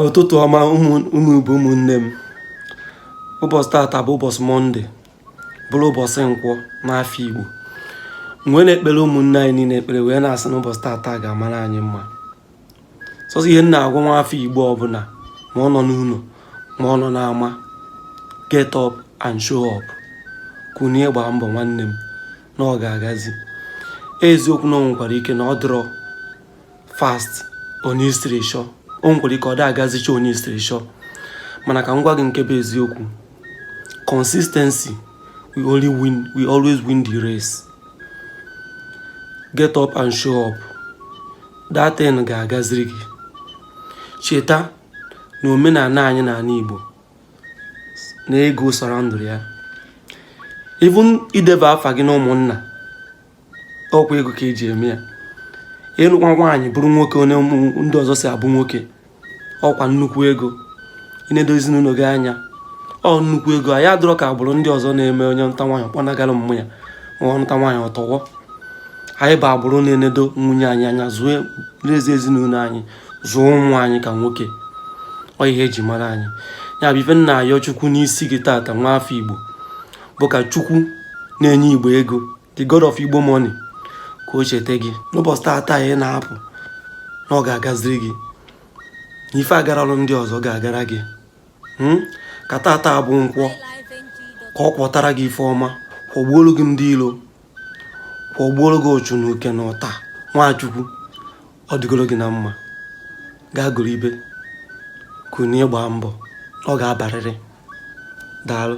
ụtụtụ ọma ụmụ Igbo ụmụnne m ụbọchị tata bụ ụbọchị mọnde bụrụ ụbọchị nkwọ n'afọ Igbo wee na-ekpere ụmụnne anyị niile ekpere wee na-asị na ụbọchị tata ga-amara anyị mma sọsọ ihe m na-agwa nwa afọ Igbo ọbụla ma ọ nọ n'ụlọ ma ọ nọ n'ama get up and show up kunie gbaa mbọ nwanne m na ọ ga-agazi eziokwu na o nwekwara ike na ọ dịrọ fast one i siri chọọ o nwekwara ike ọ da agazicha one i siri chọọ mana ka m gwa gị nke bụ eziokwu consistency will always win the race get up and show up that thing ga-agaziri gị cheta na omenala anyị na ala Igbo na ego surroundịrị ya even ideba afa gị na ụmụnna ọkwa ego ka eji eme ya ịnụkwa nwaanyị bụrụ nwoke one ndị ọzọ si abụ nwoke ọkwa nnukwu ego inedo ezinụlọ gị anya ọ nnukwu ego anyị adịrọ ka agbụrụ ndị ọzọ na-eme onye nụta nwaanyị kpọnagara mmụ ya ma ọ nụta nwaanyị ọtọwọ anyị bụ agbụrụ na-enedo nwunye anyị anya zụọ n'ezi ezinụlọ anyị zụọ ụmụ anyị ka nwoke ọ ihe eji mara anyị ya bụ ife m na-ayọ chukwu n'isi gị tata nwa afọ igbo bụ ka chukwu na-enye igbo ego the god of igbo money ka o cheta gị n'ụbọchị taata ị na-apụ na ọ ga-agaziri gị na ife agaralụ ndị ọzọ ga-agara gị hmm? ka taata bụ nkwọ ka ọ kwọtara gị ife ọma kwọgbuolu gị ndị ilo kwọgbuolu gị ụchụ na uke na ụta nwa chukwu ọ dịgoro gị na mma gaa gụrụ ibe kunie gbaa mbọ ọ ga-abarịrị daalụ